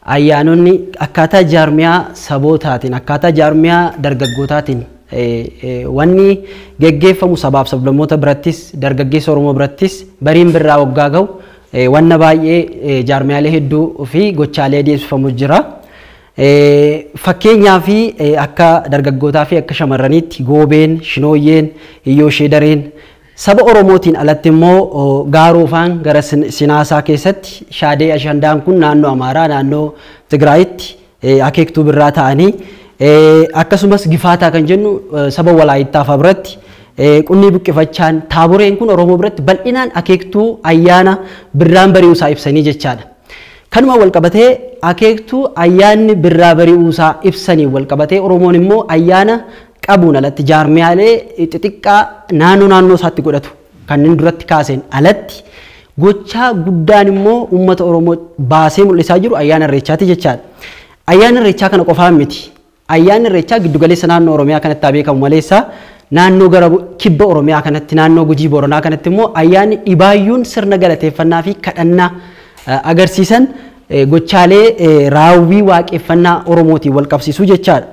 Ayyaanonni akkaataa jaarmiyaa sabootaatiin, akkaataa jaarmiyaa dargaggootaatiin wanni geggeeffamu sabaaf sablammoota birattis, dargaggeessa Oromoo birattis bariin birraa waggaa gahu wanna baay'ee jaarmiyaalee hedduu fi gochaalee adeemsifamu jira. Fakkeenyaa fi akka dargaggootaa fi akka shamarraniitti goobeen, shinooyyeen, iyyoo sheedareen, Saba Oromootiin alatti immoo Gaaroofaan gara Sinaasaa keessatti Shaadee Ashandaan kun naannoo Amaaraa naannoo Tigraayitti akeektuu birraa ta'anii akkasumas Gifaataa kan jennu saba Walaayittaa fa'aa biratti qunnii buqqifachaan taaboreen kun Oromoo biratti bal'inaan akeektuu ayyaana birraan bari'uusaa ibsanii jechaadha. Kanuma walqabatee akeektuu ayyaanni birraa bari'uusaa ibsaniin walqabatee Oromoon immoo ayyaana qabuun alatti jaarmiyaalee xixiqqaa naannoo naannoo isaatti godhatu kanneen duratti kaaseen alatti gochaa guddaan immoo uummata Oromoo baasee mul'isaa jiru ayyaana irreechaati jechaadha. Ayyaana irreechaa kana qofaa miti. Ayyaanni irreechaa giddugaleessa naannoo Oromiyaa kanatti haa beekamu maleessa naannoo gara kibba Oromiyaa kanatti naannoo Gujii Booranaa kanatti immoo ayyaanni dhibaayyuun sirna galateeffannaa fi kadhannaa agarsiisan gochaalee raawwii waaqeffannaa Oromootiin wal qabsiisuu jechaadha.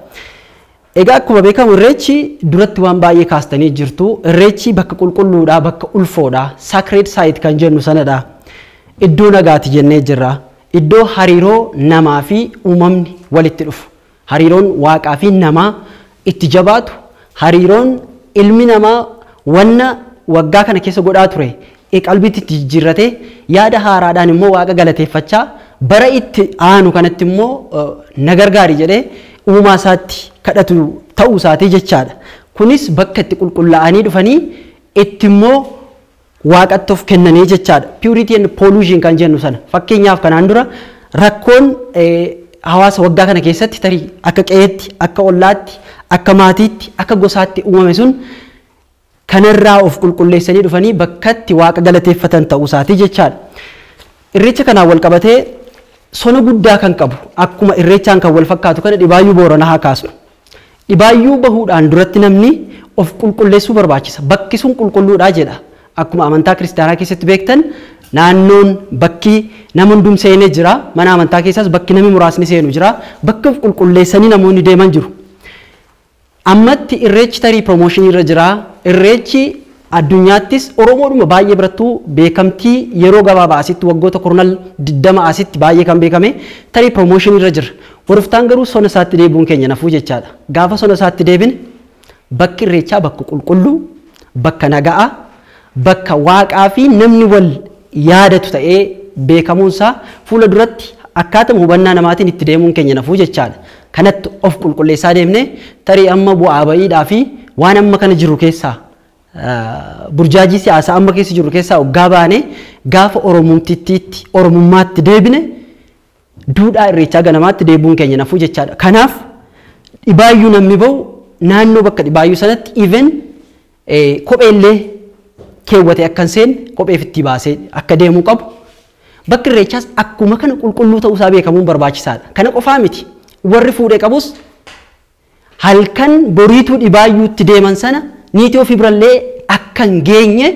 Egaa akkuma beekamu irreechi duratti waan baay'ee kaastanii jirtu. Irreechi bakka qulqulluudha, bakka ulfoodha. Sacred site kan jennu sanadha. Iddoo nagaati jennee jirra. Iddoo hariiroo namaa fi uumamni walitti dhufu. Hariiroon waaqaa fi namaa itti jabaatu, hariiroon ilmi namaa wanna waggaa kana keessa godhaa ture e qalbiitti itti jijjiirratee yaada haaraadhaan immoo waaqa galateeffachaa bara itti aanu kanatti immoo eh, na gargaari jedhee uumaa isaatti kadhatu ta'uu isaatii jechaadha. Kunis bakka itti qulqullaa'anii dhufanii itti immoo waaqatti of kennanii jechaadha. Purity and pollution kan jennu sana. Fakkeenyaaf kanaan dura rakkoon eh, hawaasa waggaa kana keessatti tarii akka qe'eetti, akka ollaatti, akka maatiitti, akka gosaatti uumame sun kanarraa of qulqulleessanii dhufanii bakkatti waaqa galateeffatan ta'uu isaati jechaadha. Irreecha kanaan wal qabatee sona guddaa kan qabu akkuma irreechaan kan wal fakkaatu kana dhibaayyuu booranaa haa kaasnu. Dhibaayyuu bahuudhaan duratti namni of qulqulleessuu barbaachisa. Bakki sun qulqulluudhaa jedha. Akkuma amantaa kiristaanaa keessatti beektan naannoon bakki nama hundum seenee jira. Mana amantaa keessaas bakki namni muraasni seenu jira. Bakka of qulqulleessanii namoonni deeman jiru. Ammatti Irreechi tarii promotion irra jira. Irreechi addunyaattis Oromoodhuma baay'ee birattuu beekamtii yeroo gabaabaa asitti waggoota kurnal 20 asitti baay'ee kan beekame tarii promotion irra jira. Boruftaan garuu sona isaatti deebi'uun keenya nafuu jechaadha. Gaafa sona isaatti deebine bakki Irreechaa bakka qulqulluu, bakka naga'aa, bakka Waaqaa fi namni wal yaadatu ta'ee beekamuun isaa fuula duratti akkaatuma hubannaa namaatiin itti deemuun keenya hin hafu jechaa dha. Kanatti of qulqulleessaa deemnee tarii amma bu'aa ba'iidhaa fi waan amma kana jirru keessaa burjaajii siyaasaa amma keessa jirru keessaa oggaa baane gaafa Oromumtittiitti Oromummaatti deebine duudhaa irreechaa ganamaatti deebi'uun keenya hin hafu jechaa dha. Kanaaf dhibaayyuu namni ba'u naannoo bakka dhibaayyuu sanatti even Kophee illee keewwatee akka hin seenne kophee fittii baasee akka deemuu qabu bakki irreechaas akkuma kana qulqulluu ta'uu isaa beekamuun barbaachisaadha. Kana qofaa miti warri fuudhee qabus halkan boriituu dhibaayyuutti deeman sana niitii ofii birallee akka hin geenye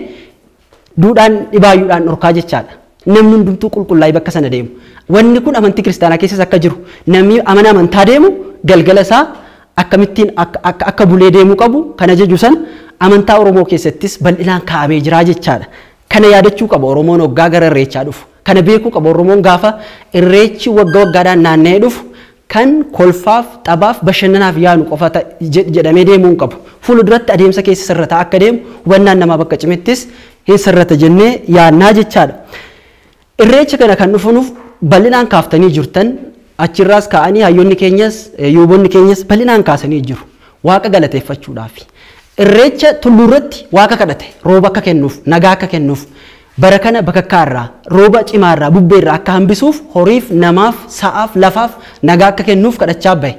Duudhaan dhibaayyuudhaan dhorkaa jechaadha. Namni hundumtuu qulqullaa'ee bakka sana deemu. Wanni kun amantii kiristaanaa keessas akka jiru namni amana amantaa deemu galgala isaa akkamittiin akka, akka, akka bulee deemuu qabu kan ajaju sana amantaa Oromoo keessattis bal'inaan kaa'amee jira jechaadha. Kana yaadachuu qaba Oromoon waggaa gara irreechaa dhufu. Kana beekuu qaba Oromoon gaafa irreechi wagga waggaadhaan naanna'ee dhufu kan kolfaaf, taphaaf, bashannanaaf yaanu qofa ta, je, jedhamee deemuu hin qabu. Fuula duratti adeemsa keessa sirrataa akka deemu hubannaan namaa bakka cimettis hin sirrata jennee yaannaa jechaadha. Irreecha kana kan dhufunuuf bal'inaan kaaftanii jirtan achirraas ka'anii hayyonni keenyas yuubonni keenyas bal'inaan kaasanii jiru. Waaqa galateeffachuudhaafi. Irreecha tulluurratti waaqa kadhate rooba akka kennuuf, nagaa akka kennuuf, Bara kana bakakkaa irraa, rooba cimaa irraa, bubbee irraa akka hambisuuf horiif, namaaf, sa'aaf, lafaaf nagaa akka kennuuf kadhachaa bahe.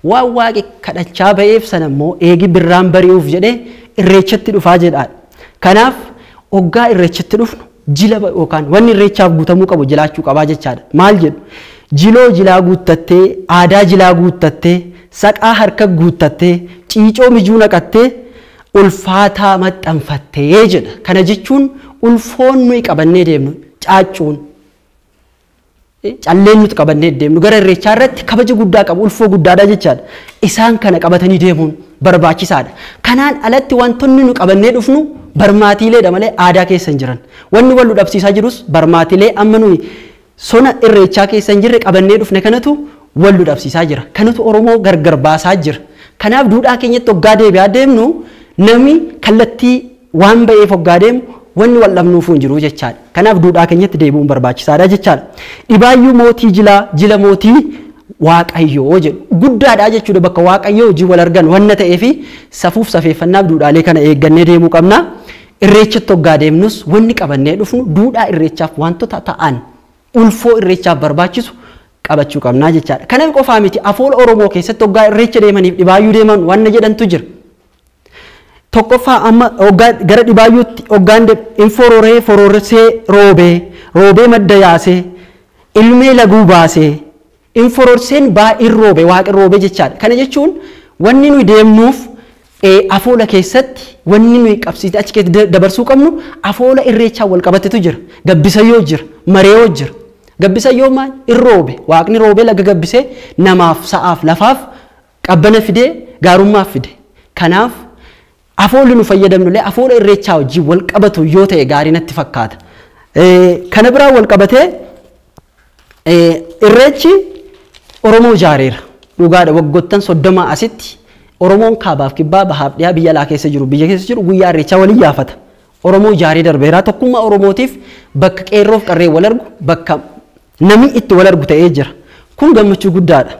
Waan Waaqi kadhachaa baheef sana immoo eegi birraan bari'uuf jedhee Irreechatti dhufaa jedha. Kanaaf oggaa Irreechatti dhufnu jila yookaan wanni Irreechaaf guutamuu qabu jilaachuu qabaa jechaadha. Maal jedhu? Jiloo jilaa guuttattee, aadaa jilaa guuttattee, saqaa harka guuttattee, ciicoo mijuu naqattee, ulfaataa maxxanfatte jedha. Kana jechuun ulfoon nuyi qabannee deemnu caaccuun calleen nuti qabannee deemnu gara irreechaa irratti kabaja guddaa qabu ulfoo guddaadha jechaadha. Isaan kana qabatanii deemuun barbaachisaadha. Kanaan alatti wantoonni nu qabannee dhufnu barmaatiileedha malee aadaa keessa hin jiran. Wanni wal nu dhabsiisaa jirus barmaatiilee amma nuyi Sona irreechaa keessa hin jirre qabannee dhufne kanatu wal nu dhabsiisaa jira. Kanatu Oromoo gargar baasaa jira. Kanaaf duudhaa keenyatti hoggaa deebi'aa deemnu namni kallattii waan ba'eef hoggaa deemu wanni wal dhabnuufuu hin jiru jechaadha. Kanaaf duudhaa keenyatti deebi'uun barbaachisaadha jechaadha. Dhibaayyuu mootii jilaa jila mootii Waaqayyoo jedhu. Guddaadha jechuudha bakka Waaqayyoo wajjin wal argan wanna ta'eefi safuuf safeeffannaaf duudhaalee kana eeggannee deemuu qabna. Irreechatti hoggaa deemnus wanni qabannee dhufnu duudhaa irreechaaf waantota ta'an ulfoo irreechaaf barbaachisu qabachuu qabnaa jechaadha. Kanan qofaa miti afoola Oromoo keessatti hoggaa irreecha deemaniif dhibaayyuu deeman wanna jedhantu jira. Tokkoffaa amma hoggaa gara dhibaayyuutti hoggaan deem in fororee fororsee roobee roobee madda yaasee ilmee laguu baasee Infororseen baay'een roobe, waaqni roobe jechaadha. Kana jechuun wanni nuyi deemnuuf afoola keessatti wanni nuyi qabsiisne achi keessatti dabarsuu qabnu afoola irreechaan wal qabatetu jira. Gabbisayyoo jira, mareeyoo jira. Gabbisayyoo maal? In roobe, waaqni roobee laga gabbisee namaaf, sa'aaf, lafaaf qabbana fidee gaarummaa fide. Kanaaf Afoolli nu fayyadamnullee afoola irreechaa wajjin wal qabatu yoo ta'e gaarii natti fakkaata. Kana biraan wal qabatee irreechi Oromoo ijaareera. Dhugaadha waggoottan soddomaa asitti Oromoon kaabaaf kibbaa bahaaf dhiyaa biyya alaa keessa jiru biyya keessa jiru guyyaa irreechaa wal iyyaafata. Oromoo ijaaree darbeera. Tokkummaa Oromootiif bakka qeerroof qarreen wal argu bakka Namni itti wal argu ta'ee jira. Kun gammachuu guddaa dha.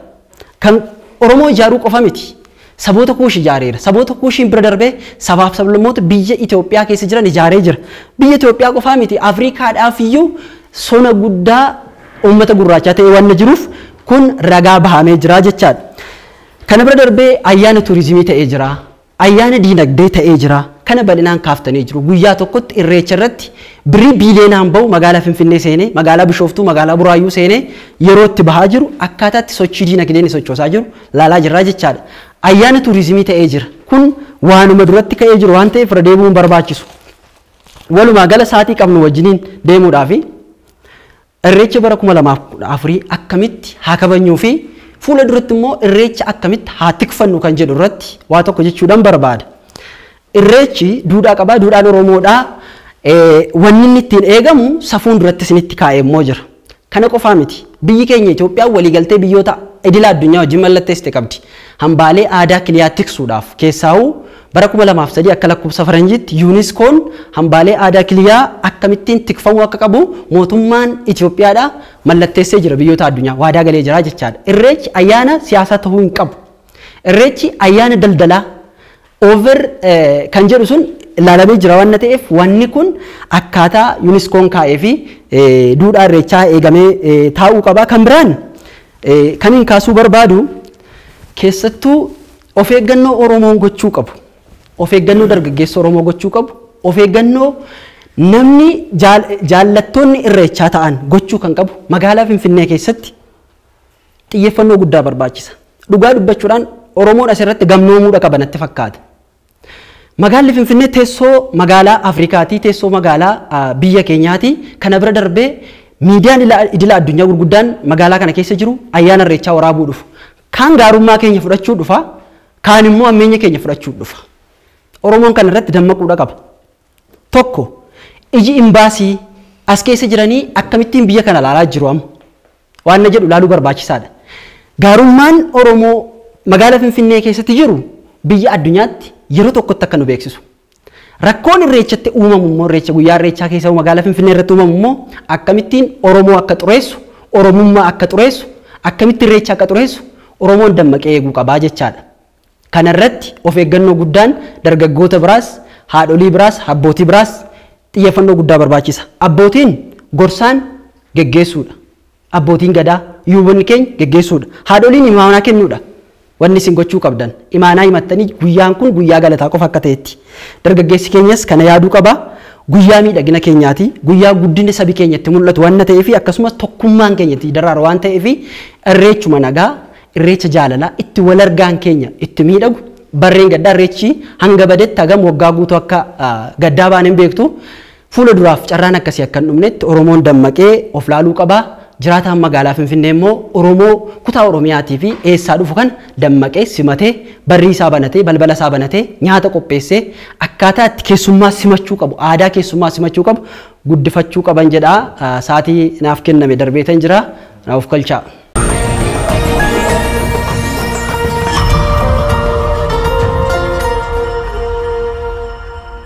Kan Oromoo ijaaruu qofa miti. Saboota Kuush ijaareera. Saboota Kuushiin bira darbee sabaaf sablammoota biyya Itoophiyaa keessa jiran ijaaree jira. Biyya Itoophiyaa qofaa miti Afriikaadhaaf iyyuu sona guddaa uummata gurraachaa ta'ee waan jiruuf kun ragaa bahamee jira jechaadha. Kana bira darbee ayyaana tuurizimii ta'ee jira. Ayyaana diinagdee ta'ee jira. Kana bal'inaan kaaftanii jiru. Guyyaa tokkotti Irreecha irratti birrii biiliyoonaan bahu magaalaa Finfinnee seenee, magaalaa Bishooftuu, magaalaa Buraayyuu seenee yeroo itti bahaa jiru akkaataa itti sochii diinagdeen inni sochoosaa jiru laalaa jirra jechaadha. Ayyaana tuurizimii ta'ee jira. Kun waanuma duratti ka'ee jiru waan ta'eef irra deebi'uu hin barbaachisu. Walumaa gala saatii qabnu wajjiniin deemuudhaafi. Irreecha bara 2014 akkamitti haa kabajnuu fi fuula duratti immoo irreecha akkamitti haa tikfannu kan jedhu irratti waa tokko jechuudhaan barbaada. Irreechi duudhaa qabaa, duudhaan Oromoodhaa wanni inni ittiin eegamu safuun duratti isinitti kaa'ee immoo jira. Kana qofaa miti. Biyyi keenya Itoophiyaan waliigaltee biyyoota idila addunyaa wajjin mallatteessite qabdi. Hambaalee aadaa kiliyaa tiksuudhaaf keessaahuu Bara 2003 akka lakkoofsa faranjiitti Yuuniskoon hambaalee aadaa kiliyaa akkamittiin tikfamuu akka qabu mootummaan Itoophiyaadha mallatteessee jira biyyoota addunyaa waadaa galee jira jechaadha. Irreechi ayyaana siyaasaa ta'uu hin qabu. Irreechi ayyaana daldalaa over kan jedhu sun ilaalamee jira waan ta'eef wanni kun akkaataa Yuuniskoon kaa'ee fi duudhaa irreechaa eegamee taa'uu qaba. Kan biraan kan hin kaasuu barbaadu keessattuu Of eeggannoo Oromoon gochuu qabu, of eeggannoo dargaggeessi Oromoo gochuu qabu, of eeggannoo namni jaallattoonni irreechaa ta'an gochuu kan qabu magaalaa Finfinnee keessatti xiyyeeffannoo guddaa barbaachisa. Dhugaa dubbachuudhaan Oromoon asirratti gamnoomuudha qaba natti fakkaata. Magaalli Finfinnee teessoo magaalaa Afrikaatii, teessoo magaalaa biyya keenyaatii kana bira darbee miidiyaan idila addunyaa gurguddaan magaalaa kana keessa jiru ayyaana irreechaa waraabuu dhufu. Kaan gaarummaa keenya fudhachuu dhufa, kaan immoo hammeenya keenya fudhachuu dhufa. Oromoon kana irratti dammaquudha qaba. Tokko, iji imbaasii as keessa jiranii akkamittiin biyya kana ilaalaa jiru amma? Waan na jedhu ilaaluu barbaachisaadha. Gaarummaan Oromoo magaala Finfinnee keessatti jiru biyya addunyaatti yeroo tokkotti akka nu beeksisu. Rakkoon irreechatti uumamu immoo irreecha guyyaa irreechaa keessa magaalaa Finfinnee irratti uumamu immoo akkamittiin Oromoo akka xureessu, Oromummaa akka xureessu, akkamitti irreecha akka xureessu Oromoon dammaqee eeguu qabaa jechaadha. Kana irratti of eeggannoo guddaan dargaggoota biraas, haadholii biraas, abbootii biraas xiyyeeffannoo guddaa barbaachisa. Abbootiin gorsaan geggeessuudha. Abbootiin Gadaa, Yuubonni keenya geggeessuudha. Haadholiin imaanaa kennuudha. Wanni isin gochuu qabdan, imaanaa himattanii guyyaan kun guyyaa galataa qofa akka ta'etti. Dargaggeessi keenyas kana yaaduu qaba. Guyyaa miidhagina keenyaati. Guyyaa guddinni sabi keenya itti mul'atu wanna ta'eefi akkasumas tokkummaan keenya itti daraaru waan ta'eefi irreechuma nagaa, irreecha jaalalaa itti wal argaan keenya itti miidhagu barreen gaddaa irreechi hanga badetti hagam waggaa guutuu akka gaddaa baane hin beektu. Fuula duraaf carraan akkasii akka hin dhumnetti Oromoon dammaqee of laaluu qaba. Jiraataan magaalaa Finfinnee immoo Oromoo kutaa Oromiyaatii fi eessaa dhufu kana dammaqee simatee barrii isaa banatee balbala isaa banatee nyaata qopheessee akkaataa itti keessummaa simachuu qabu aadaa keessummaa simachuu qabu guddifachuu qaban jedha. Sa'aatii naaf kenname darbeetan jira. Na of kalchaa.